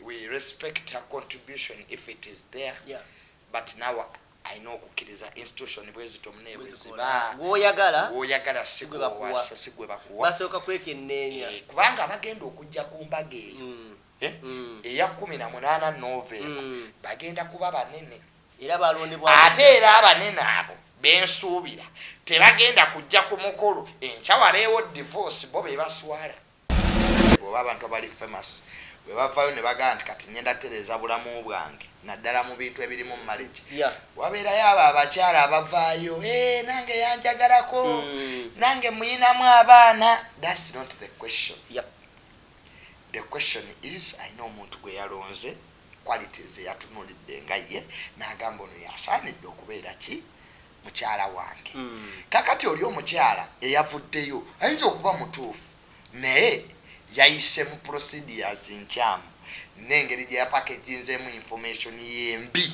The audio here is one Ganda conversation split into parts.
we respect her contribution if it is there yeah. but now alina okukkiriza institution bwezito munebwezibaawoyagala sigwe bakuwabasooka kwekenneenya eh, kubanga abagenda okujja ku mbaga eyo mm. Eh? Mm. eya kumi na munaana novemba mm. bagenda kuba banene ate era abanene abo bensuubira tebagenda kujja ku mukolo enkyawa beewo divorce bo bebaswala Bw'oba abantu abali famous bwe bavaayo ne bagamba nti kati ngenda kutereeza bulamu bwange naddala mu bintu ebirimu marriage, wabeerayo abo abakyala abavaayo ee nange yanjagalako, nange muyinamu abaana, that's not the question. The question is alina omuntu gwe yalonze, qualities ze yatunuulidde nga ye n'agamba ono y'asaanidde okubeera ki? mukyala wange mm. kakati oli omukyala eyavuddeyo ayinza okuba mutuufu naye yayise mu procedures nkyamu n'engeri gye yapakeginzeemu information yembi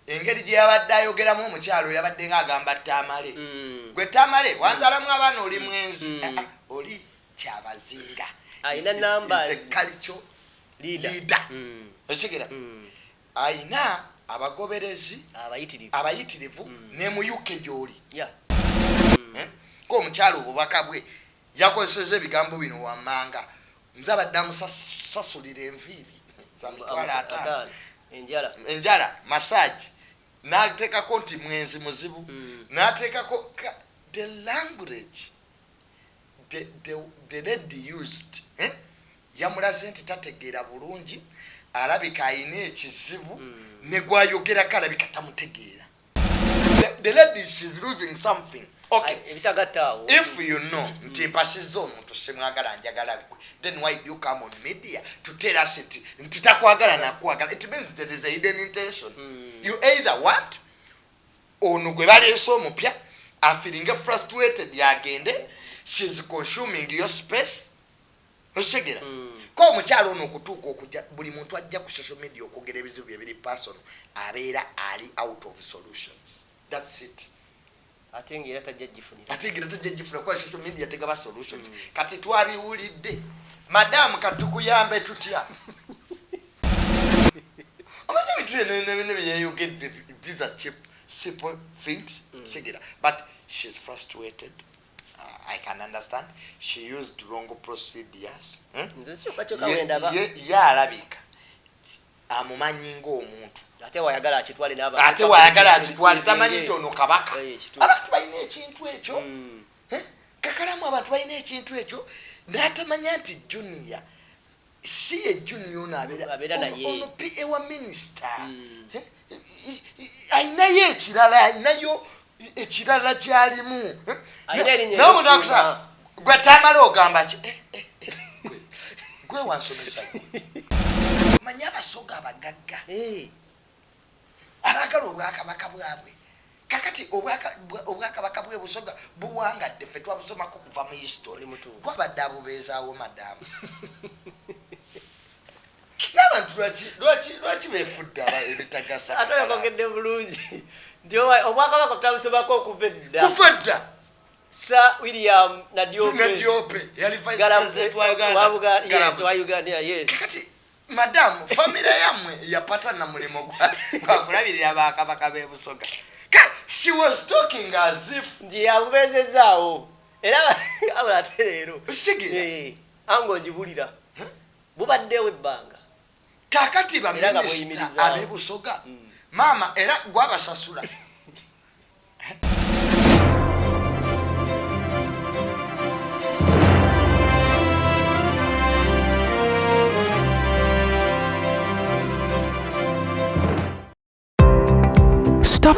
engeri gye yabadde ayogeramu omukyalo yabadde nga agamba tamale mm. gwe tamale wanzalamu abaana oli mm. mwenzi mm. ah, ah, oli kyabazinga alina namba zekalico lida osigera Alina abagoberezi abayitirivu ne mu UK gy'oli. Ng'omukyala obubaka bwe yakozesezza ebigambo bino wammanga, Nze abadde amusasulira enviiri za mitwalo ataano, enjala, masaagi n'ateekako nti mwenzi muzibu n'ateekako ka, the language the lady used, Yamulaze nti tategeera bulungi alabika alina ekizibu ne gw'ayogerako alabika tamutegeera. The- The lady she's losing something. Okay. Ay, ebitagatta awo If you know nti mpasizza omuntu simwagala njagala gwe then why do you come on media to tell us nti nti takwagala nakwagala it means there is a hidden intention you either want ono gwe baleese omupya afiringe frustrated agende she's consuming your space okitegera mm. ko omukyalo ono okutuuka okuja buli muntu ajja ku social media okwogera ebizibu bye biri person abeera ali out of solutions thats it ate ngaera tajja gifunira ate ngaera tajja gifuna kuba social media tegaba solutions mm. kati twabiwulidde madamu katukuyambe tutya omaze ebintu byenebine byeyeyogedde these are cheap simple things mm. sigera but she's frustrated I can understand she used wrong procedures eh? ye alabika amumanyi ngaomuntu ate wayagala akitwale ate wayagala akitwale tamanyi nti ono kabaka eh, abantu balina ekintu ekyo hmm. eh? kakalamu abantu balina ekintu ekyo natamanya nti junior si ye junior ono abeera ono pa wa minisita hmm. eh, eh, eh, alinayo ekirala alinayo ekirala kyalimu nawe omuntu akusa gwe tamala ogamba ki gwe wansomesa manya abasoga abagagga Abaagala obwakabaka bwabwe. Kakati obwaka, obwakabaka bwe Busoga buwangadde, ffe twabusomako kuva mu history. Gwabadde abubeezaawo madamu. N'abantu lwaki, lwaki, lwaki beefudde aba ebitagasa. Ate oyogedde bulungi nti obwakabaka twabusomako okuva edda. Kuva edda. Sir William Nadiope. Nadiope yali vice president wa Uganda. Wa Uganda, yes, wa Uganda, yes. Kakati madamu famire yamwe yapata na mulimu gwakulabirira bakabaka bebusoga she was talking as if nti yabubezezaawo era abula ate leero sigira eh, anga ogibulira bubaddewo ebbanga kakati baminisita abebusoga mm. maama era gwabasasula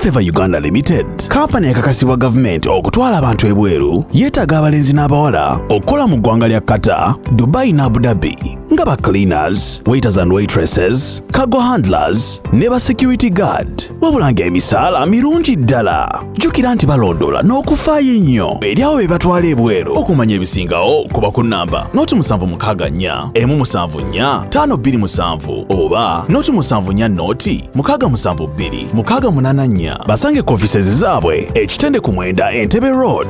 Favor Uganda Limited kampani ekakasibwa gavumenti okutwala abantu ebweru yeetaaga abalenzi n'abawala okukola mu ggwanga lya Qatar, Dubai ne Abu Dhabi. nga ba cleaners waiters and waitresses cargo handlers ne ba security guard wabula nga emisaala mirungi ddala jjukira nti balondoola n'okufaayo ennyo eri awo be batwala ebweru okumanya ebisingawo kuba ku nnamba noti musanvu mukaaga nnya emu musanvu nnya taano bbiri musanvu oba noti musanvu nnya noti mukaaga musanvu bbiri mukaaga munaana nnya basange ku offices zaabwe ekitende ku mwenda entebe road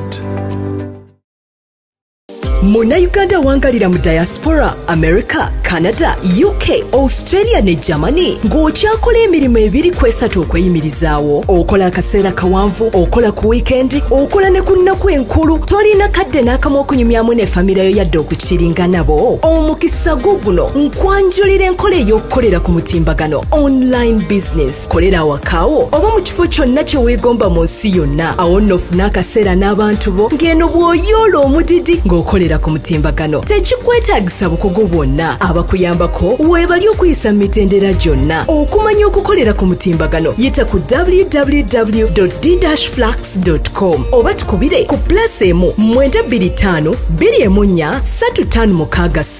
munnayuganda awangalira mu diaspora america canada uk australia ne germany ng'okyakola emirimu ebiri ku esatu okweyimirizaawo okola akaseera kawanvu okola ku wiikendi okola ne ku nnaku enkulu tolina kadde n'akamu okunyumyamu ne famira yo yadde okukiringa nabo omukisa gwo guno nkwanjulira enkola ey'okukolera ku mutimbagano online business kolera awakaawo oba mu kifo kyonna kye weegomba mu nsi yonna awo nno ofune akaseera n'abantu bo ng'eno bw'oyoola omudidi ng'okolera ku mutimbagano tekikwetaagisa bukugu bwonna abakuyambako weebali okuyisa mu mitendera gyonna okumanya okukolera ku mutimbagano yita ku www dflux com oba tukubire ku plus emu 925 2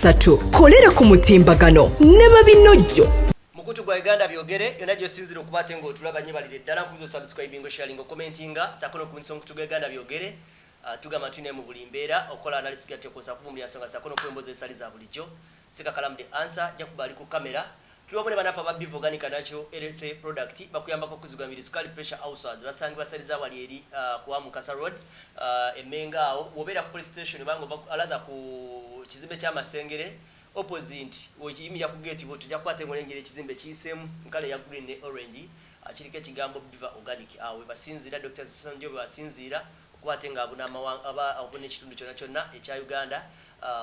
3 kolera ku mutimbagano ne babinojjo Mukutu gwa Uganda byogere yona gyosinzira okuba ate nga otulaba nyo balire ddala nkubizo subscribingo sharingo commentinga sako nokubunyisa omukutu gwa Uganda byogere uh, tugamba tuli naye mu buli mbeera okola analysis gya tekosa kuvumbira nsonga sako nokuwa emboozi ezitali za bulijjo sika kalamu the answer jakuba ali ku kamera tuli wamu ne banafa ba Biv Organic Natural Health Product bakuyambako okuzigwa mibiri sukali pressure ulcers basangibwa saliza wali eri uh, ku Amukasa Road uh, emenga awo wobeera ku police station banga alatha ku kizimbe kya Masengere Opposite wo yimira ku gate bwotyo ojja kukwata engule engeri ekizimbe kiyisemu mukala eya green ne orange kiriko ekigambo Bviva organic awo webasinziira Dokita Ssonjo webasinziira okuba ate nga abuna amawanga aba abuna ekitundu kyona kyona ekya Uganda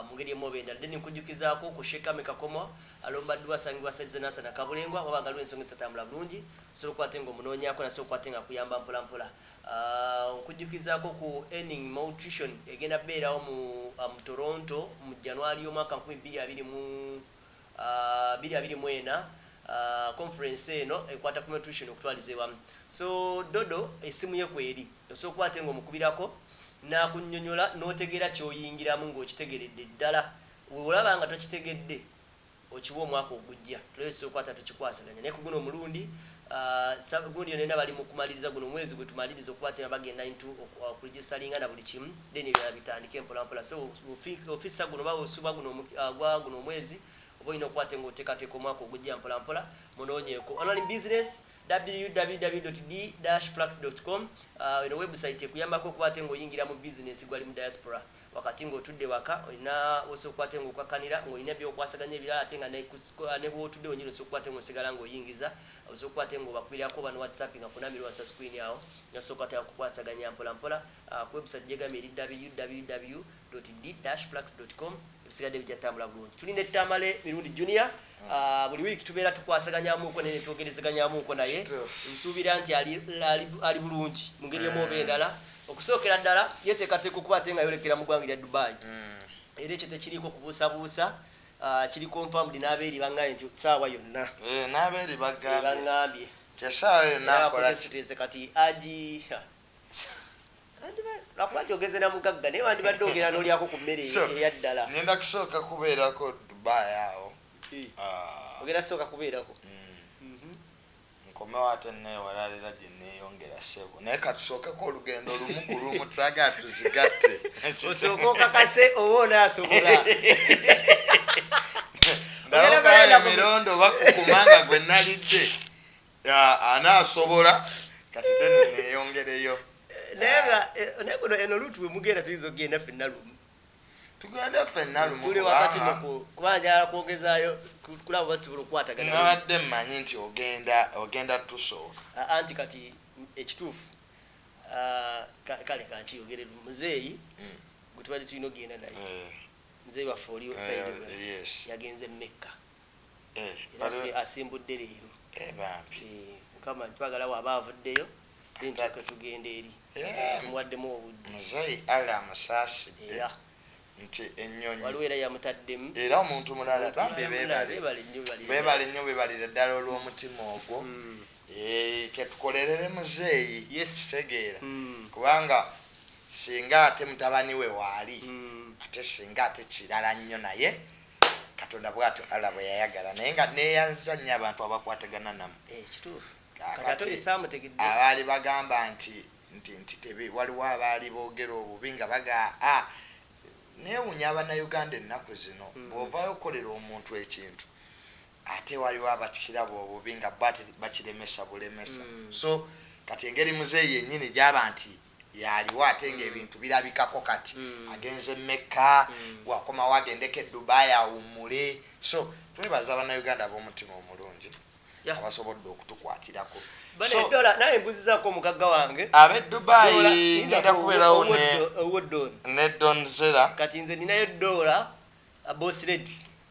mungeri emu oba endala then nkujjukizaako ku Sheik Amy Kakomo alomba dduwa asangibwa side ze Nansana Kabulengwa wabanga waliwo ensonga ezitatambula bulungi osobola okuba ate nga omunoonyaako naye osobola okuba ate nga akuyamba mpola mpola Nkujjukizaako ku Earning Maltrition egenda kubeerawo mu mu Toronto mu January y'omwaka nkumi bbiri abiri mu bbiri abiri mu ena. Conference eno ekwata ku maltrition okutwaliza ewamu. So Dodo essimu ye kweri, osobola okuba ate ng'omukubirako n'akunnyonyola n'otegeera ky'oyingiramu ng'okitegeredde ddala. Bw'olaba nga tokitegedde okiwe omwaka ogujja tulabe kyekikwata tukikwasaganya naye kuguno omulundi uh, gundi yonena bali mukumaliriza guno omwezi gwetumaliriza okuba tena bagenda into okuregistalinga uh, na buli kimu then ebirala bitandike mpolampola so ofisa guno bawe osuba guno uh, gwa guno omwezi oba olina okuba te ngaoteekateeka omwaka ogujja mpolampola munoonyeeko online business www.d-flux.com uh, eno website ekuyambako okuba ate ngaoyingira mu bizinesi gwali mu diaspora Wakati ng'otudde waka, olina w'osobola okukola ate ng'okakkanira, ng'olina by'okwasaganya ebirala ate nga ne ku siko, ne w'otudde wennyini osobola okukola ate ng'osigala ng'oyingiza, osobola okukola ate ng'obakubirako oba n'owatsapinga ku namba eri wansi wa screen awo, n'osoboka ate okukwasaganya mpola mpola ku website gy'egambye eri www dot d-flux dot com, ebisigadde bijja tambula bulungi. Tuli ne Tamale Mirundi Junior. Ah, buli wiiki tubeera tukwasaganyamuuko naye netwogerezeganyamuuko naye nsuubira nti ali bulungi mu ngeri emu oba eh. endala okusookera ddala yeteekateeka okuba ate nga yolekera mu ggwanga erya dubai hmm. era ekyo tekiriiko kubuusabuusa ah, kiri confirmed n'abeeri bangambye nti saawa yonna eh, n'abeeri bagambye eh, kati agi lwakuba nti ogenze na mugagga naye wandibadde ogera nolyako ku mmere eyaddala ngenda kusooka kubeerako dubai awo ah. ogenda sooka kubeerako mm. mhm. nkomewo ate newalalira gyeneyongera sebo naye katusookeko olugendo lumu ku lumu tulaga tuzigatte osooka okakase oba onaasobola ndabogaya emirondo bakukuma nga gwe nalidde Yeah, anaasobola kati then neeyongereyo naye nga eh, naye kuno eno luutu bwe mugenda tuyinza okugenda ffenna lumu tugende ffenna lumu tuli wakati kubanga- noku kuba njala kwongezaayo ku- kulaba basobola okukwatagana nabadde mmanyi nti ogenda ogenda tusooka A- anti kati ekituufu ah, ka- kale kankiyogere lumu muzeeyi Mm. gwe tubadde tulina okugenda naye Eh, muzeeyi waffe oli eh, sayidi yes yagenze mekka era asi- asimbudde leero Eh, bambi Eh, mukama twagala waaba avuddeyo then tulyoke tugende eri Yeah. tumuwaddemu obudde muzeeyi allah amusaasidde era nti ennyonyi waliwo era yamutaddemu era omuntu mulala bambi bebale Bebale nnyo, bebale. bebale nnyo bebalire ddala olw'omutima ogwo Mm. Eh, ketukolerere muzeeyi Yes. kitegeera Mm. kubanga singa ate mutabani we waali Mm. ate singa ate kirala nnyo naye katonda bwatyo allah bwe yayagala naye nga neyanziza nnyo abantu abakwatagana namu eh, abaali bagamba nti nti nti tebe waliwo abaali boogera obubi nga baga a ah, newunya abanauganda ennaku zino hmm. bwovayo okukolera omuntu ekintu ate waliwo abakiraba obubi nga bo ate bakiremesa bulemesa so kati engeri muzeeyi yennyini gyaba nti yaliwo ate ng'ebintu birabikako kati agenze mekka wakomawo agendeko e dubai awummule so twebaza bannayuganda ab'omutima omulungi Yeah. abasobodde okutukwatirako Bane So, dola naye mbuzizako omugagga wange ab'e Dola, dubai yinza ngenda ku- kubeerawo ne ow'oddo- ow'oddoni. ne don zera kati nze ninayo dola boss lady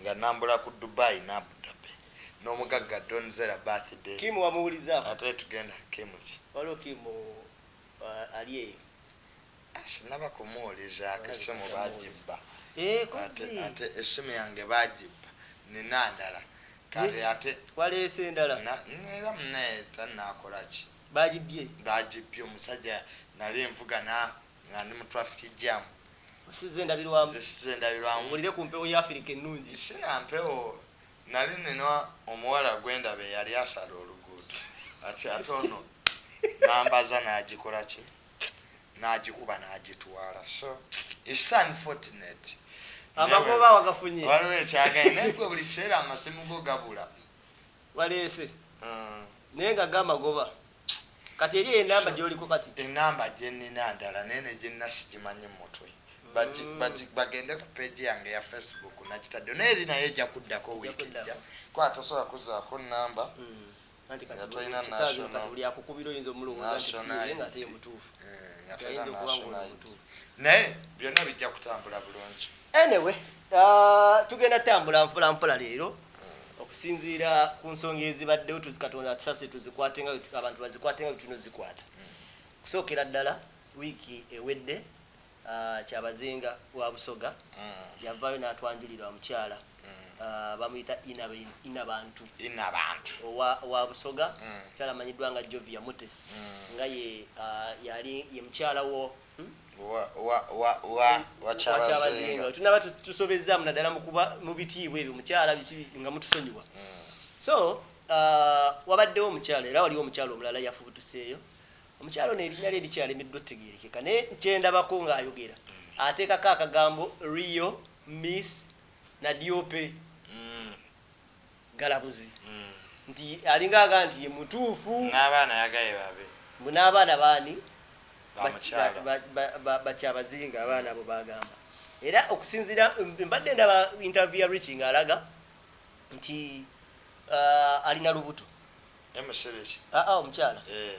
Nga nambula ku Dubai ne Abu Dhabi nomugagga Don Zera birthday. Kim wamuwulizako? Ate tugenda Kim ki? Waliwo Kim ali eyo. Sinaba kumuwulizako esimu bagibba ate esimu yange bagibba nina ndala kale ate waleese endala era munaye tanakolaki bagibbye bagibbye omusajja nali nvuga nga ndi mu traffic jam osiza endabirwamu nze siza endabirwamu owulire ku mpewo ya afirika ennungi sina mpewo nali nina omuwala gwendaba eyali asala oluguudo ati ate ono nambaza nagikola ki nagikuba nagitwala so its unfortunate amagoba wagafunye waliwo ekyagaye naye gwe buli kiseera amasimu go gabula Waleese naye nga ga magoba. Kati eri eyo enamba gyoliko kati. Enamba gyenina ndala naye ne gyennina sigimanyi mu mutwe. Bagi, bagi, bagende ku page yange eya Facebook nakitaddewo naye eri nayo ejja kuddako week ejja kuba tosobola kuzzaako nnamba Anti kati nga buli tolina kisaawe kino kati national buli akukubira oyinza omulowooza nti si national ye ye nga ate ye ID. mutuufu. Eh, nga Nti tolina ayinza okuba national ng'ono ID. mutuufu. Naye byonna bijja kutambula bulungi. Anyway, ah, tugenda tambula mpola mpola leero. okusinziira ku nsonga ezibaddewo tuzikatonda atusase tuzikwate nga abantu bazikwate nga bwetulina ozikwata okusookera ddala wiiki ewedde ah, kyabazinga wa busoga mm. yavaayo n'atwanjulira omukyala mm. ah, bamuyita ina bantu owa busoga mm. mukyala amanyiddwa nga jovia mutes nga ah, yali ye mukyala wo wakyabazinga tunaba tusobezaamu naddala mu bitiibwa ebyo mukyala biki nga mutusonyiwa mm. so uh, wabaddewo omukyala era waliwo omukyala omulala yafubutuseeyo omukyala ono erinnya lye likyalemiddwa otegeerekeka naye kyendabako ng'ayogera mm. ateekako akagambo rio miss nadiope Galabuzi nti alinga agamba nti ye mutuufu. N'abaana ayagaye babe. Mbu n'abaana b'ani? Ba mukyala. Ba Kyabazinga abaana abo b'agamba. Era okusinziira, mbadde ndaba interview ya Richie ng'alaga nti alina lubuto. Naye musiru ki? Haa omukyala. Eehh.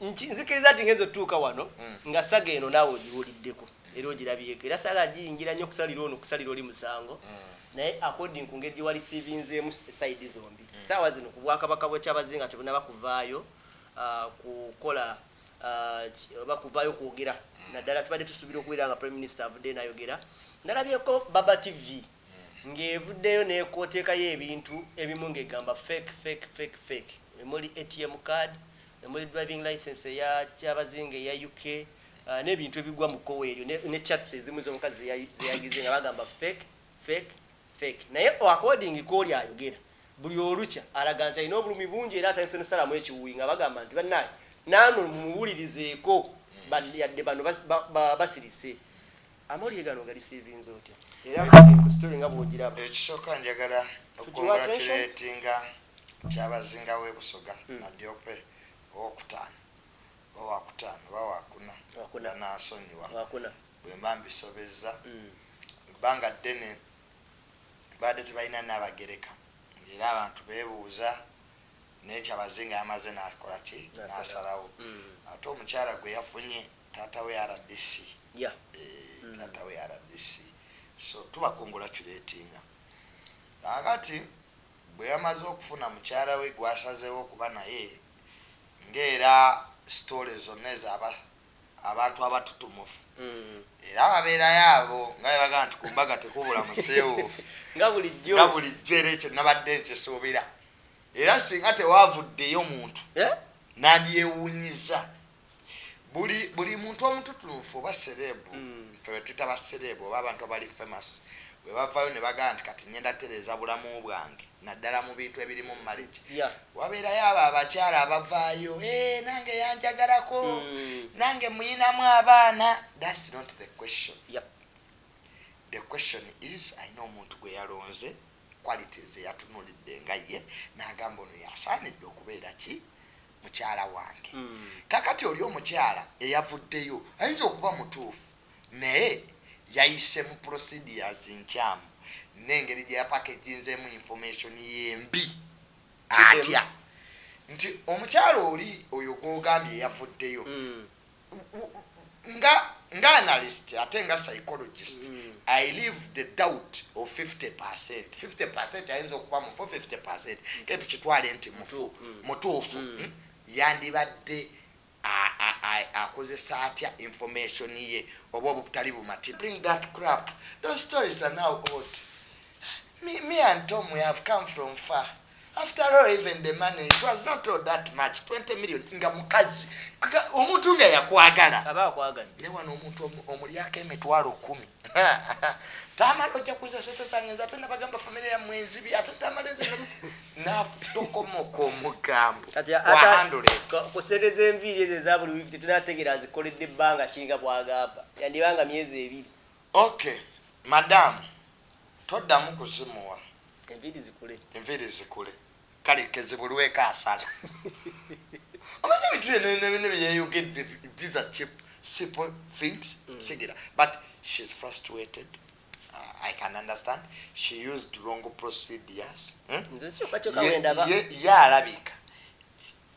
Nki- nzikiriza nti ngenza otutuuka wano Mm. nga saga eno naawe ogiwuliddeko era ogirabyeko era saga ngiyingira nnyo okusalira ono okusalira oli musango Mm. naye according ku ngeri gye walisiibinzeemu sayidi zombi Mm. saawa zino ku bwakabaka bwekyabazinga tebunaba kuvaayo ah, kukola ah, ki- oba kuvaayo kwogera Mm. naddala tubadde tusuubira okubeera nga prime minister avuddeyo nayogera nalabyeko baba tv ng'evuddeyo n'ekotekayo ebintu ebimu ng'egamba fake fake fake fake emuli ATM card, emuli driving licence eya Kyabazinga eya UK n'ebintu ebigwa mu kkowe eryo ne chats ezimu z'omukazi zeyagize nga bagamba fake fake fake naye according kwoli ayogera buli olukya alaga nti alina obulumi bungi era atandise n'okusalamu ekiwuuyi nga bagamba nti bannange naamwe mumuwulirizeeko yadde bano basirise. Amawulire gano ogarisiivinze otya era amawulire ku story nga bwogiraba? Ekisooka njagala okukongulatuleetinga Kyabazinga w'e Busoga, Nadiope owookutaano oba waakutaano oba waakuna banansonyiwa bwe mba mbisobezza. Ebbanga ddene baabadde tebalina Nnaabagereka ng'era abantu beebuuza naye Kyabazinga yamaze n'akola ki? N'asalawo. Ate omukyala gwe yafunye Taata we rdc yeah eeh taata we rdc so tuba congratulatinga kakati bweyamaze okufuna mukyala we gwasazewo okuba naye nga era story zona ezo aba abantu abatutumufu era baberayo abo nga bebagamba nti kumbaga tekubula musewufu nga bulijjo nga bulijjo era ekyo nabadde nkisuubira era singa tewavuddeyo muntu yeah? nandiyewunyiza buli buli muntu omututunfu oba serebu mm. fe wetuyita baserebu oba abantu abali famous webavayo nebagamba nti kati ngenda tereeza bulamu bwange naddala mu bintu ebirimu mumalegi yeah. wabeerayo abo abakyala abavaayo e, eh, nange yanjagalako mm. nange muyinamu abaana thats not the question yep. the question is ayina omuntu gwe yalonze qualities eyatunulidde nga ye nagamba ono yasaanidde okubeera ki mukyala wange mm. kakati oli omukyala eyavuddeyo ayinza okuba mutuufu naye yayise mu procedures nkyamu nengeri gyeyapakejinzemu information yembi atya nti omukyala oli oyo gwogambye eyavuddeyo mm. nga nga analyst ate nga psychologist mm. i live the doubt of 50 percent 50 percent ayinza okuba mufu 50 percent mm. ke tukitwale nti mufu mm. mutuufu mm. mm? yandibadde akozesa atya information ye oba obutali bumati bring that crap those stories are now old me, me and tom we have come from far after all even the money it was not all that much 20 million nga mukazi omuntu nga yakwagala aba akwagala ne wano omuntu omulyako emitwalo 10 tamala ojja kuza sente zange nze ate nabagamba famire ya mwenzi bi ate tamala nze nafutokomoka omugambo kusereza enviiri ezo eza buli wiiki tetunategeera azikoledde ebbanga kinga bwagamba yandibanga myezi ebiri Ok madam toddamu kuzimuwa enviiri zikule kale kezibulweko asala omanyi ebintu byenebine byeyeyogedde these are cheap simple things mm. sigira but she's frustrated uh, i can understand she used wrong procedures hmm? ye alabika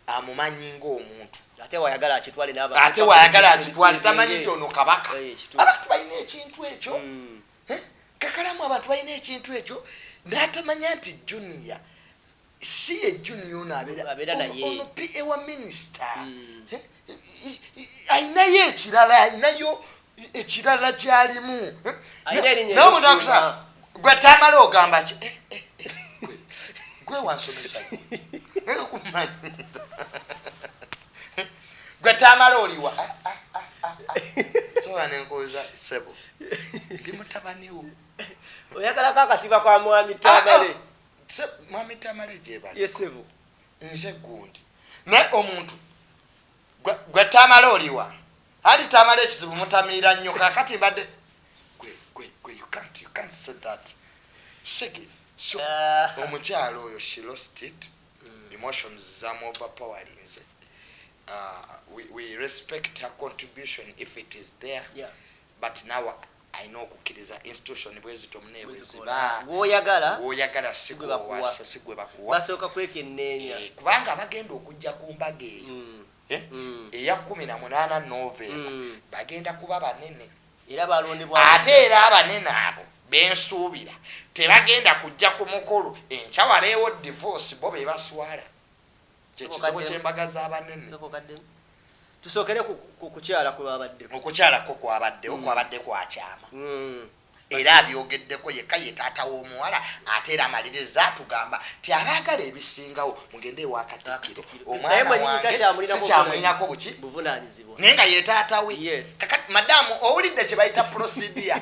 amumanyi ng'omuntu ate wayagala akitwale ate wayagala akitwale tamanyi nti ono kabaka eh, abantu balina ekintu ekyo hmm. eh, kakalamu abantu balina ekintu ekyo natamanya nti junia si ye junia ono abeeraono pa wa minisita hmm. eh, alinayo ekirala alinayo ekirala kyalimu gwe tamala ogamba ki eh, eh, eh, gwe wansomesa gwe tamala oliwa ah, ah, ah, soba nenkoza sebo ndi mutabaniwo oyagalako akatiba kwa mwami tamale mwami tamale gyebali yesebo nze gundi naye omuntu Gwe tamale oliwa ali tamale ekizibu mutamiira nnyo kakati mbadde uh. omukyalo oyo she lost it mm. emotions zamu overpowerlinze uh, we, we respect her contribution if it is there yeah. But nawe ayina okukiriza institution bwezityo mune bweziba gwoyagala gwoyagala sigwewasa sigwebakuwa basooka kwekenneenya eh, kubanga abagenda okujja ku mbaga eyo mm. eh, mm. eya kumi na munaana novemba mm. bagenda kuba banene era balondebwa ate era abanene abo bensuubira tebagenda kujja ku mukolo enkya wabeewo divorce bo bebaswala Kye kizibu ky'embaga z'abanene. Tusookere ku kukyala kwe babaddeko. Okukyala kwo kwabaddewo mm. kwabadde kwa kyama. Mm. Era abyogeddeko yekka ye taata w'omuwala ate era amaliriza atugamba ti abaagala ebisingawo mugende ewa Katikkiro omwana wange sikyamulinako buki naye nga ye taata we. Kakati madamu owulidde kye bayita procedure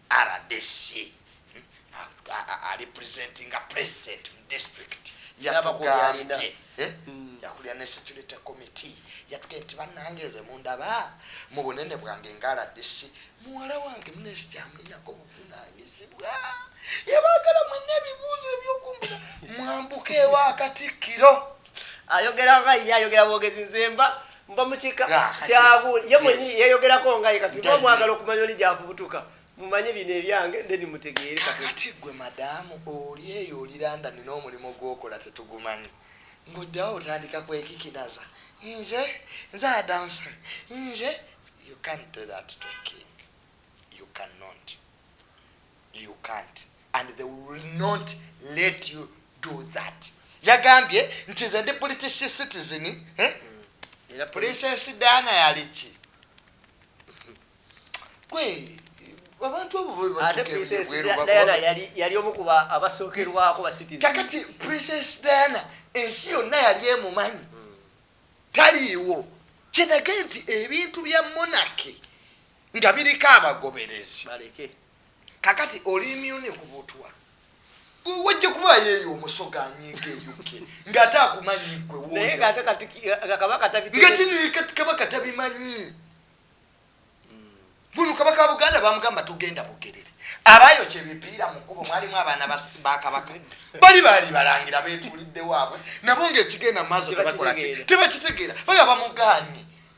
Rdc hmm, arepresentinga president mu district yatugambye eh? hmm. yakulira ne security committee yatuge nti banange nze mundaba mu bunene bwange nga rdc muwala wange munesi kyamulinako buvunanyizibwa yebagala mwena ebibuuzo ebyokumbuza mwambuka ewa katikkiro ayogera nga ye ayogera bwogezi nze mba mba mukika ah, kyabu ye mwenyi yeyogerako nga ye kati mwagala okumanya oli gyavubutuka mumanye bino ebyange ndeni mutegeere kakati gwe madamu oli eyo oli landani n'omulimu gwokola tetugumanyi ng'ojjawo otandika kwekikinaza nze nze adansa nze you can't do that to a king you cannot You can't and they will not let you do that. Yagambye nti nze ndi British citizen eh? Mm. Princess Diana yali ki? Gwe abantu abo bwe batukeera Diana yali yali omu ku abasookerwako ba citizen. Kakati Princess Diana ensi yonna yali emumanyi mm. taliiwo kinage nti ebintu bya monarchy nga biriko abagoberezi kakati oli imyuni ku butwa wajja kuba yeeyo omusoga anyiiga eyuke ng'ate akumanyi gwe wongatinekabaka tabimanyi buno kabaka wa buganda bamugamba tugenda bugerere abayo kyebipiira mu kkubo mwalimu abaana bakabaka bali baali balangira beetulidde waabwe nabo ngaekigenda maaso tebakitegeera baga bamuganye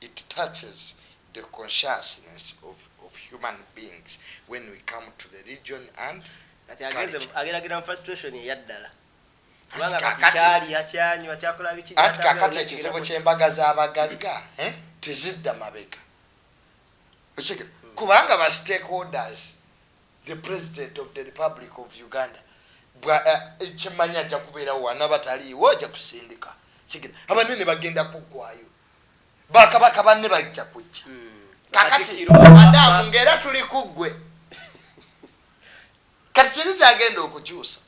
It touches the consciousness of, of human beings when we come to the region and kati agenze culture. ageragera mu frustration eyaddala kubanga kati kakati- kyalya kyanywa kyakola biki anti kyatambula, kakati nakigera ekizibu mu- ky'embaga z'abagagga eh, tezidda mabega Okitegera? kubanga ba stakeholders the president of the republic of uganda bwa- eh, kyemanyi ajja kubeerawo wanaba taliiwo ajja kusindika Okitegera? abanene bagenda kuggwayo bakabaka banne bajja kujja hmm. kakati adamu ngaera tuli kuggwe kati kiri kyagenda okukyusa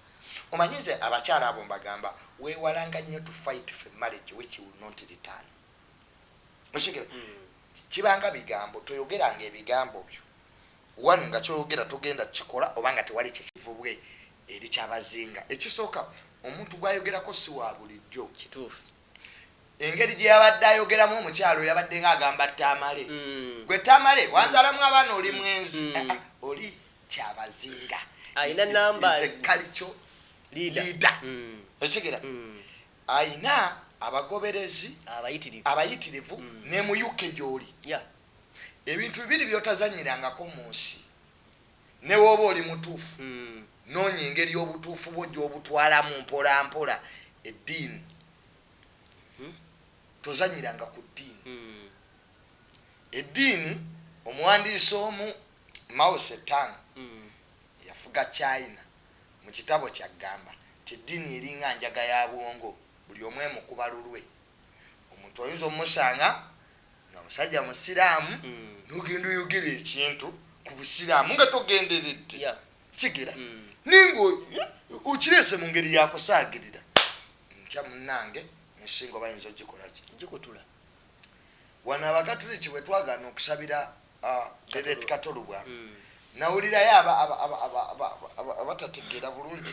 omanyi nze abakyala abo mbagamba wewalanga nnyo to fight for marriage which will not return okigira hmm. kibanga bigambo toyogeranga ebigambo byo one nga kyoyogera togenda kikola oba nga tewali kyekivubwe eri kyabazinga ekisooka omuntu gwayogerako si wa bulijjo kituufu engeri gye yabadde ayogeramu omukyalo yabadde nga agamba tamale mm. gwe tamale wanzalamu abaana oli mm. mwenzi mm. ah, ah, oli kyabazinga alina nambalikalico liida osigera alina abagoberezi abayitirivu ne mu uk gyoli ebintu bibiri byotazanyirangako mu nsi Ne w'oba oli mutuufu, noonya engeri obutuufu bwo gy'obutwalamu mpolampola. Eddiini. Tozannyiranga ku ddiini. Eddiini, omuwandiisi omu, Mao Tse-tung, eyafuga China, mu kitabo kye aggamba nti, Eddiini eringa njaga ya bwongo, buli omu emukuba lulwe. Omuntu oyinza omusanga. nga musajja musiraamu mm. nogenda oyogera ekintu ku busiraamu nga togenderedde yeah. kigera mm. naye nga okireese mu ngeri yakusaagirira ntya munange ensinga oba yinza ogikolaki gikutula wano abakatuliki bwe twagana okusabira deret uh, katolubwa mm. nawulirayo abatategeera bulungi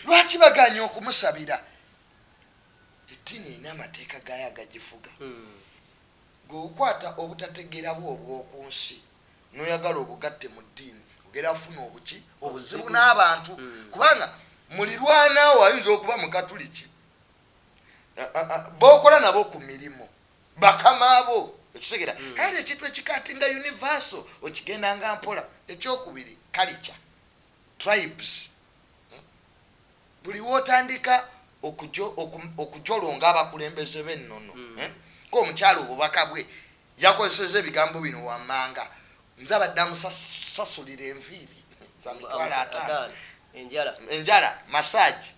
lwaki baganya okumusabira Eddiini erina amateeka gaayo agagifuga. Ggwe okwata obutategeera bwo obw'oku nsi n'oyagala obugatte mu ddiini, ogenda kufuna obuki? Obuzibu n'abantu. Kubanga mulirwana wo ayinza okuba Mukatuliki, b'okola nabo ku mirimu, bakama bo. Okitegera? Kale ekintu ekikaatinga universal okigendanga mpola. Ekyokubiri, kalica, tribes. Buli wotandika okujolonga abakulembeze b'ennono hmm. eh, ng'omukyala obubaka bwe yakozeseza ebigambo bino wammanga, nze abadde amusasulira enviiri za mitwalo ataano enjala masaagi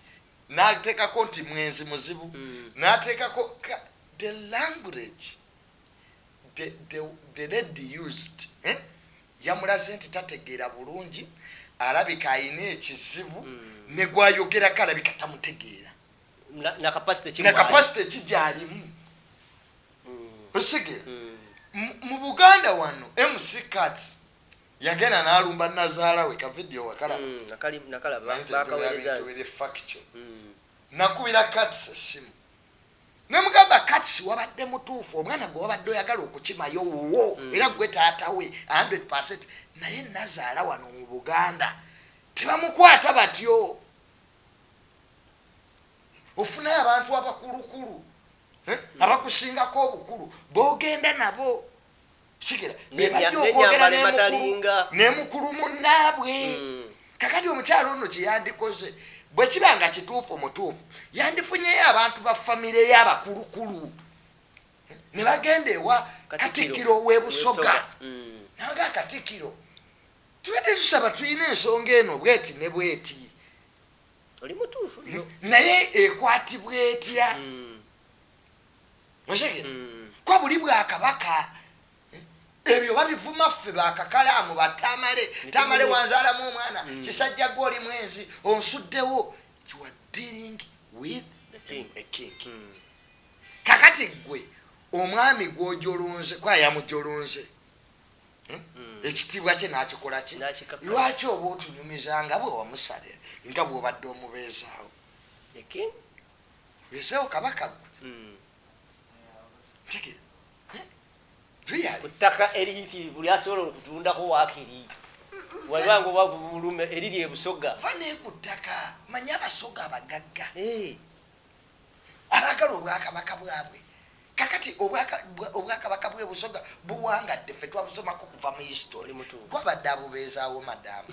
n'ateekako nti mwenzi muzibu hmm. n'ateekako the language the lady used eh? yamulaze nti tategeera bulungi alabika alina ekizibu mm. negwayogerako alabika tamutegeera nakapasite ekigyalimu mm. osige mm. mu buganda wano mc cat yagenda nalumba nazaala we kavidiyo wakalabanakubirakats esimu nemugamba kati wabadde mutuufu omwana gwe wabadde oyagala okukimayo wuwo mm. era gwe taata we 100 percent naye nazaala wano mu buganda tebamukwata batyo ofunayo abantu abakulukulu eh? mm. abakusingako obukulu bogenda nabo kigera bebajja okwogera nemukulu munaabwe mm. kakati omukyalo ono kyeyandikoze bwekiba nga kituufu mutuufu yandifunyeyo abantu ba famire yabakulukulu nebagenda ewa katikiro webusoga mm. nanga katikiro tubadde tusaba tulina ensonga eno bweti ne bweti naye ekwatibwa etya mm. okitegera mm. kuba buli bwakabaka eh, ebyo babivuma ffe bakakalaamu batamale tamale wanzaalamu omwana mm. kisajja gwe oli mwenzi onsuddewo you are dealing with a king mm. kakati gwe omwami gwojolonze kwayamujolonze eh? ekitiibwa kye nakikola ki lwaki oba otunyumiza nga bwe wamusale nga bwobadde omubeezaawo wezeewo kabaka gwe hmm. ntegera eh? ku ttaka eriyitirivu lyasobola okutundako wakiri walibanga obavu bulume eriri ebusoga va naye ku ttaka manyi abasoga abagagga eh. abaagala obwakabaka bwabwe kakati obwakabaka bwe busoga buwangadde fe twabusomako kuva mu history gwabadde abubeezaawo madamu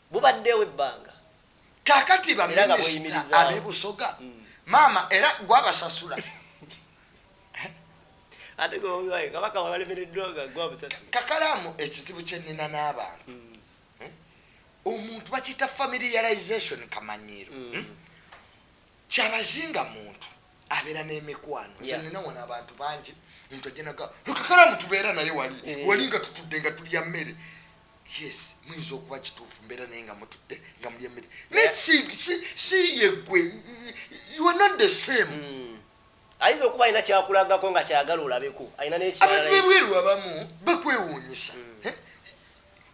Bubaddewo ebbanga. Kakati ba minister abe busoga maama era gwe abasasula. Ate gwe bobi wine kabaka walemereddwa nga gwe abusasula. Kakalamu ekizibu kyenina n'abantu. Mm. omuntu bakiyita familiarization kamanyiiro mm. hmm? kyabazinga muntu abeera n'emikwano nze nina wano abantu bangi omuntu ajenaga kakalamu tubeera naye wali eh. wali nga tutudde nga tulya mmere yes muyinza okuba kituufu mbeera naye nga mutudde nga mulya emmere naye si yegwe you are not the same hmm. ayinza okuba alina kyakulagako nga kyagala olabeko alina abantu bebweru abamu bakwewuunyisa hmm. eh?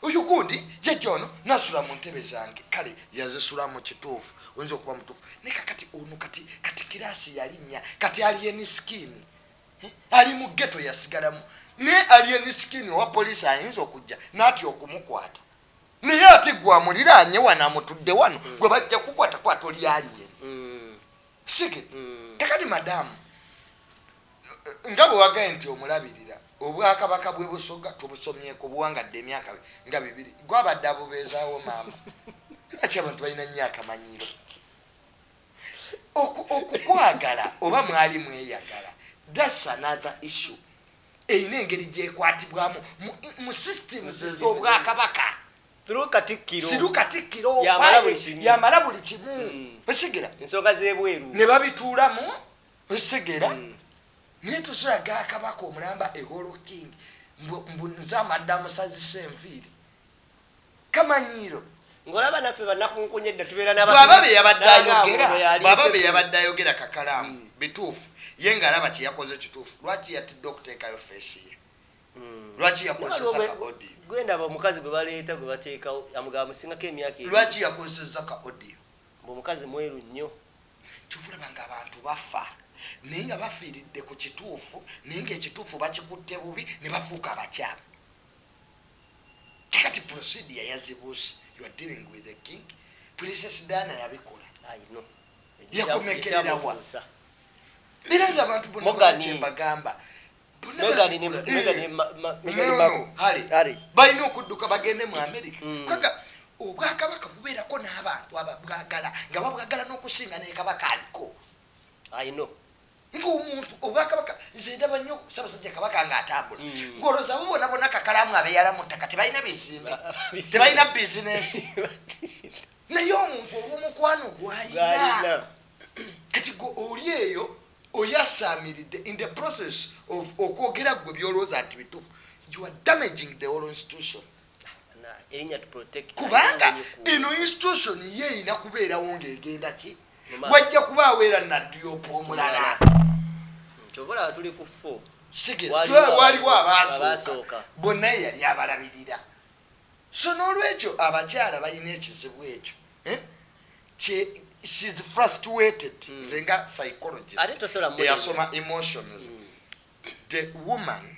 oyo gundi jajja ono nasula mu ntebe zange kale yazisula mu kituufu oyinza okuba mutuufu naye kakati ono kati kati kiraasi yalinnya kati aliyeni sikini ali mu geto yasigalamu naye alien skin owa poliisi ayinza okujja natya okumukwata naye ate gwe amuliraanye wano amutudde wano mm. gwe bajja kukwata kwata oli alien mm. sige mm. kakati madamu nga bwe wagaye nti omulabirira obwakabaka bwe busoga tubusomyeko buwangadde emyaka nga bibiri gwabadde abubeezaawo maama lwaki abantu balina nnyo akamanyiiro Oku, okukwagala oba mwali mweyagala that's another issue erina engeri gyekwatibwamu mu, mu systems ez'obwakabaka siru katikkiro yamala buli kimu mm. okitegera ensonga zebweru ne babituulamu okitegera mm. naye tuziraga akabaka omulamba eholo king mbu nze amadda musazisa enviiri kamanyiiro ngolaba naffe banakunkunya edda tubeera bwaba beyabadde ayogera kakalaamu mm. bituufu ye ngaalaba kyeyakoze kituufu lwaki yatidde okuteekayo feesi ye mm. lwaki yakozesa ka audio gwendaba omukazi gwe baleeta gwe bateekawo amugaba musingako emyaka lwaki yakozesa ka audio mbu omukazi mweru nnyo kyovulaba nga abantu bafa naye nga bafiiridde ku kituufu naye ngaekituufu bakikutte bubi ne bafuuka abakyamu Kati procedure yazibuuse you are dealing with the king princess Diana yabikola yakomekerera wa biraza abantu bona kyembagamba balina okudduka bagende mu amerika mm. kaga obwakabaka bubeerako n'abantu ababwagala nga babwagala n'okusinga nekabaka aliko ng'omuntu obwakabaka nze ndaba nnyo sabasajja kabaka ng'atambula mm. ng'oloza abo bona bona kakalaamu abeeyala mu ttaka tebalina bizimbe tebalina bizinesi naye omuntu olw'omukwano gwalina kati gwe oli eyo oyasaamiridde in the process of okwogera ggwe byolowooza nti bituufu you are damaging the whole institution kubanga eno institution ye erina kubeerawo ng'egenda ki wajja kubaawo era nadduyopa omulala waliwo abaasooka bonna yeyali abalabirira so n'olwekyo abakyala balina ekizibu ekyo eh? she's frustrated mm. nze nga psychologist eyasoma emotions mm. the woman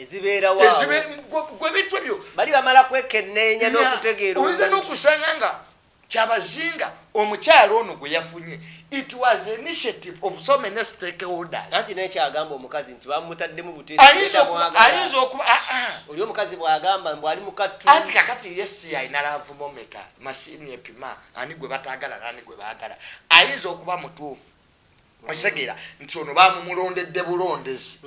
ezibeerawoyinza nokusanga nga kyabazinga omukyalo ono gwe yafunye it was initiative of so many stakeholdersnekyagamba omukazi nti bamutaddemu butayinza okuba ah, ah. oli omukazi bwagamba mbu ali mukattu anti kakati yesi alina lavumomeka mashini epima ani gwe batagala nani gwe bagala ayinza okuba mutuufu okitegeera nti ono bamumulondedde bulondezi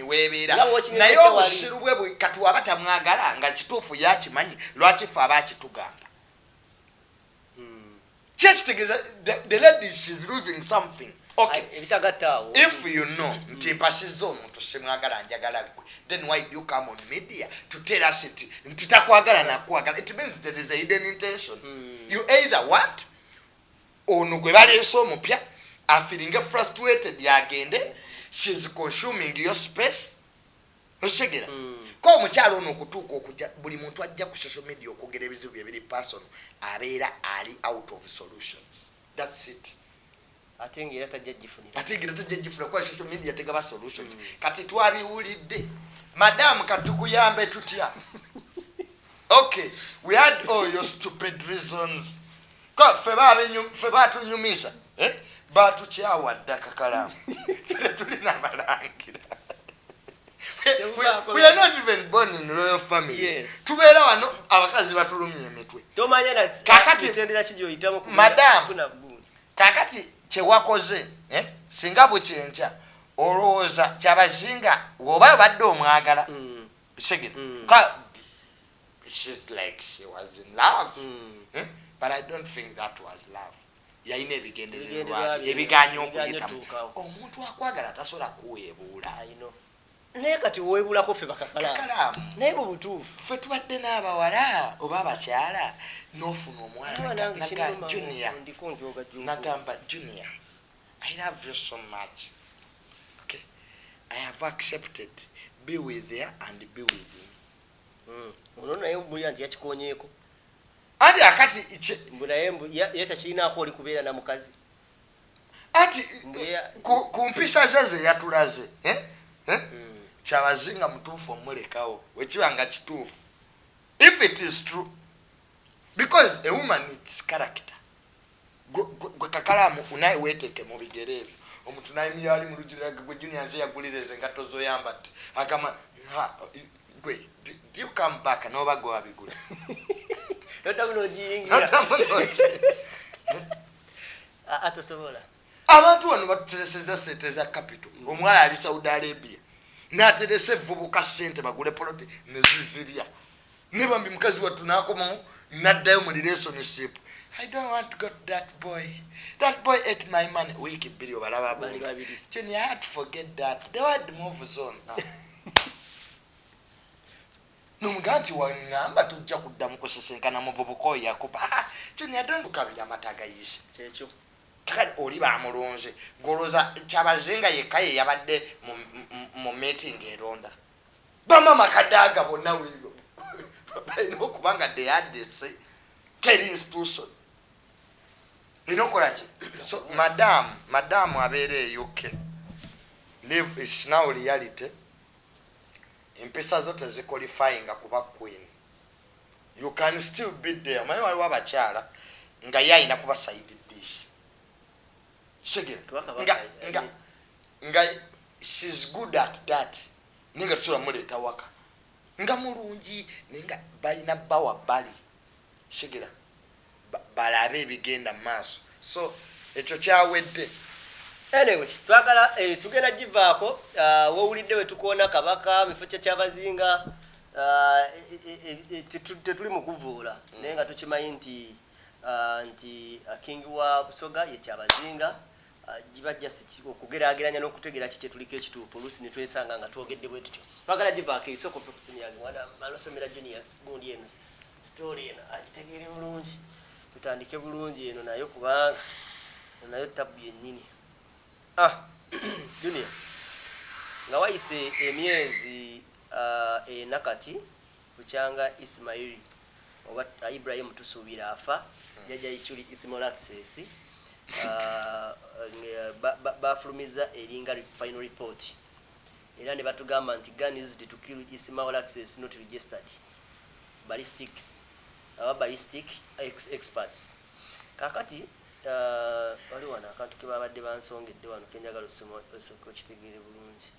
webeera naye obusiru bwe kati waba tamwagala nga kituufu yakimanyi lwaki fe aba akitugamba hmm. kyekitegeeza the ladies is losing something okay ebitagattaawo if you know mm. nti mpasizza omuntu simwagala njagala gwe then why do you come on media to tell us nti nti takwagala nakwagala it means there is a hidden intention mm. you either want Ono gwe baleese omupya afiringe frustrated agende she's consuming your space okitegera mm. ko omukyala ono okutuuka okuja buli muntu ajja ku social media okwogera ebizibu bye biri person abeera ali out of solutions thats it ate nga era tajja gifunira ate nga tajja gifunira kuba social media tegaba solutions mm. kati twabiwulidde madamu katukuyambe tutya okay we had all your stupid reasons ffe batunyumiza eh? batukyawa dda kakalaamu fere tulina abalangira tubeera wano abakazi batulumya emitwe kakati kyewakoze eh? singa bukyenkya olowooza kyabazinga woba abadde omwagala mm. segera mm. she's like she was in love mm. eh? but i don't think that was love yalina ebigendererwa ebiganya okuyitamu omuntu akwagala tasobola kuweebuula naye kati owebulako fe bakakalaamu naye bwe butuufu fe tubadde n'abawala oba abakyala n'ofuna omwalanagamba junior i love you so much okay i have accepted be with her and be with him mm. ono naye mulya nti yakikonyeeko anti akati mbunaye ye takirinaako oli kubeera na mukazi anti ku mpisa ze ze yatulaze eh? Eh? Mm. kyabazinga mutuufu omulekawo wekiba nga kituufu if it is true because a woman its character gwe kakalamu unaye weteke mubigere ebyo omuntu nayimiyali mulujirira gwe junior nze yagulira ezo engatto zoyambadde agamba ha gwe do you come back noba gwe wabigula nodamu nojiyingira atosobola abantu wano batutereseza sente za capital omuwala ali saudi arabia nateresa evubuka sente bagule poloti nezizirya ne bambi mukazi wattu n'akomawo n'addayo mu relationship i don't want to go to that boy that boy ate my money wiiki bbiri obalaba buli babiri junior i had to forget that the word moves on ah. nomugaa nti waŋŋamba tujja kuddamu kusisinkana muvubuka oyo yakuba ah, junior don't kabira amata agayise kyekyo kakati oli bamulunze goloza kyabazinga yekka ye yabadde mu meeting eronda bamama kadaga bonna wino balina okuba nga deyadese keri institution erina okukolaki so madam madam abeera euk live is now reality empisa zo tezikolifyinga kuba queen you can still be there omanyi waliwo abakyala nga ye alina kuba saidi dish kisegera nga nga nga she's good at that ninga tusula muleta waka nga mulungi ninga balina bawa bali kisegera balabe ebigenda maaso so ekyo kyawedde anyway twagala eh, tugenda givaako uh, wowulidde wetukoona kabaka mifo kya kyabazinga uh, e, e, e, tetuli mukuvuula mm. naye nga tukimanyi nti nti King wa Busoga ye Kyabazinga, giba just ki, okugeraageranya n'okutegeera ki kyetuliko ekituufu, oluusi ne twesanga nga twogedde bwe tutyo. Twagala givaako eyo, sooka oppe ku ssimu yange mwana Malosomera Junius gundi eno story eno agitegeere bulungi, tutandike bulungi eno nayo kubanga eno nayo ttabbu yennyini. Ah, Junior, nga wayise emyezi ena kati, Bukyanga Ismaili oba Ibrahim Tusuubira afa, Jjajja Ichuli Ismail Access nga baafulumizza eringa final report era ne batugamba nti gun used to kill Ismail Access not registered ballistics oba ballistic experts. Kaakati waliwo wano akantu ke baabadde bansongedde wano ke njagala osooke okitegeere bulungi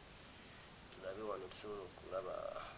tulabe wano tusobola okulaba.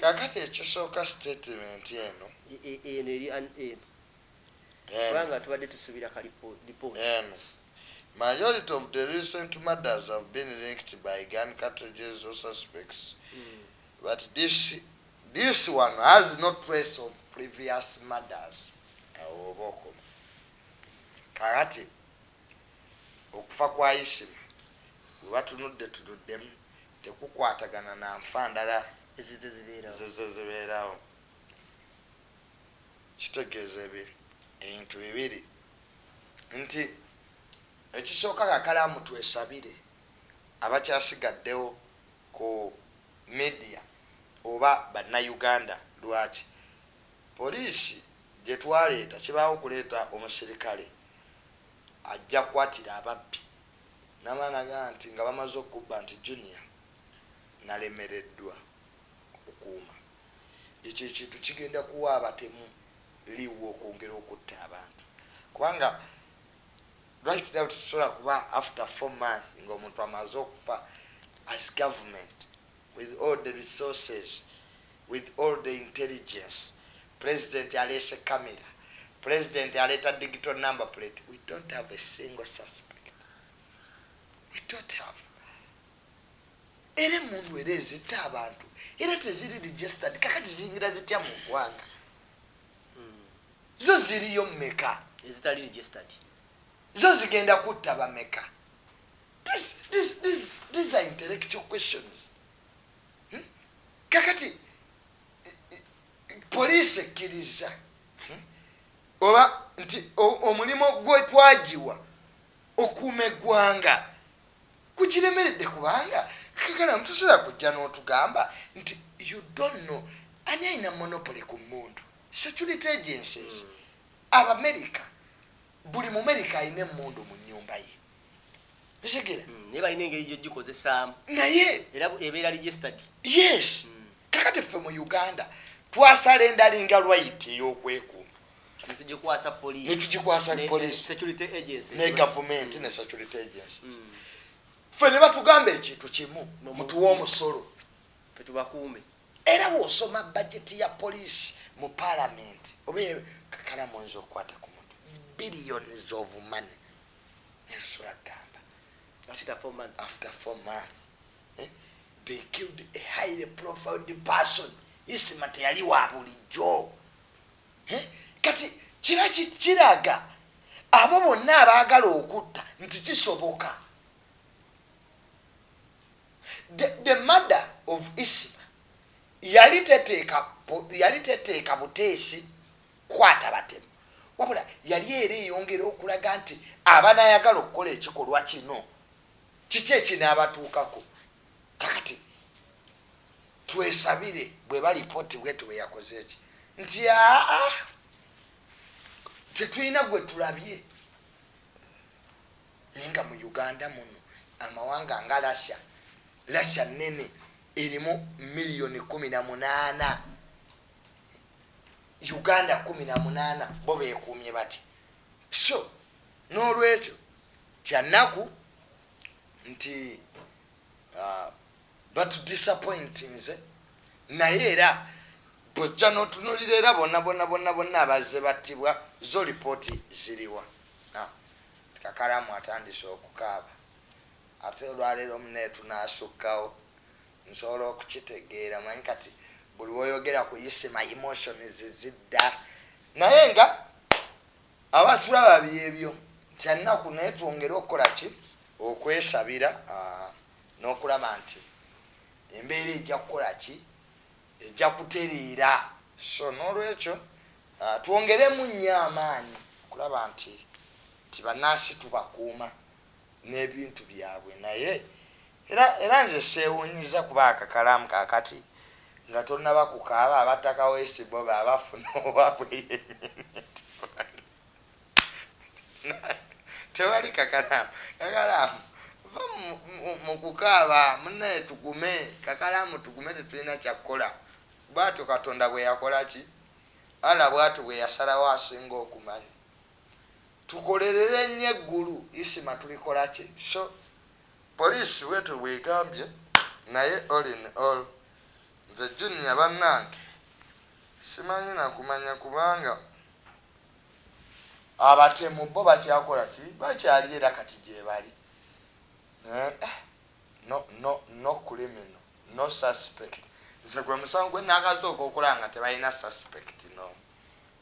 Kakati ekisooka statement eno eno eri an eno kubanga tubadde tusubira ka report eno Majority of the recent murders have been linked by gun cartridges or suspects mm. but this this one has no trace of previous murders awo oba okoma kakati Okufa kwa Isima we batunudde tunuddemu tekukwatagana na nfa ndala Ezizze zibeerawo. ezizze zibeerawo. Kitegeeza ebi, ebintu bibiri nti, Ekisooka kakalaamu twesabire abakyasigaddewo ku media oba Bannayuganda. Lwaki? Poliisi gye twaleeta kibaawo kuleeta omusirikale ajja kwatira ababbi namala nagamba nti nga bamaze okubba nti Junior nalemereddwa okukuuma ekyo ekintu kigenda kuwa abatemu liwu okwongera okutta abantu kubanga right now tetusobola kuba after four months nga omuntu amaze okufa as government. With all the resources, with all the intelligence, president aleese camera, president aleeta digital number plate, we don't have a single suspect. We don't have. Era emundu era ezita abantu, era teziri registered, kakati ziyingira zitya mu gwanga. Hmm. Zo ziriyo meka. Ezitali registered. Zo zigenda kutta bameka. This, this, this, these are intellectual questions. Hmm? Kakati poliisi ekkiriza hmm? oba nti omulimu gwe twagiwa okuuma eggwanga gugiremeredde kubanga kagala mutusobola kujja n'otugamba nti you don't know ani alina monopoly ku muntu security agencies hmm. abamerica buli mumerika alina emundu mu nyumba ye kitegera mm, naye balina engeri gyegikozesaamu naye era ebeera registered yes mm. kakati ffe mu uganda twasala endalinga right eyokwekuuma netugikwasa police netugikwasa police security agency ne government ne security agency mm. ffe ne batugamba ekintu kimu mutuwa omusolo fe tubakuume era wosoma bajeti ya police mu parliament oba kakala mwenza okukwata ku muntu billions of money nesula gamba after four months after four months eh? they killed a highly profiled person isima teyali wa bulijjo eh? kati kiba kiraga abo bonna abaagala okutta nti kisoboka the, the mother of isima yali teteeka yali teteeka buteesi kukwata batemu wabula yali era eyongera okulaga nti abanayagala okukola ekikolwa kino kiki ekinabatuukako kakati twesabire bweba lipooti bweti bweyakozeeki nti aa tetulina gwe tulabye naye nga mu uganda muno amawanga nga russia russia nene erimu miliyoni kumi na munaana uganda kumi na munaana bo bekuumye bati so n'olwekyo kyannaku nti uh, batudisappointinze naye era bwojja n'otunulira era bonna bonna bonna bonna abazze battibwa zo lipooti ziriwa kakalamu atandise okukaaba ate olwaleero muneetunaasukkawo Nsobola okukitegeera manyi kati buli woyogera ku isima emotions zidda naye nga aba tulaba byebyo kyannaku naye twongere okukola ki okwesabira ah, n'okulaba nti embeera ejja kukola ki ejja kutereera so n'olwekyo ah, twongeremu nnyo amaanyi okulaba nti nti bannansi tubakuuma nebintu byabwe naye era era nze sewunyiza kuba akakalamu kakati nga tonaba kukaaba abatta kaweesi bo baba bafuna owabwe yenyini tewali kakalamu kakalamu va mukukaaba munaye tugume kakalamu tugume tetulina kyakukola bwatyo katonda bweyakolaki Allah bwatyo bweyasalawo asinga okumanya. tukolerere nnyo eggulu isma tulikolaki so police bwetyo bwegambye naye all in all nze junior banange simanyi nakumanya kubanga abatemu bo bakyakolaki bakyali era kati gyebali naye eh no no no criminal no suspect nze gwemusango gwenakasooka okulaba nga tebalina suspect nomu.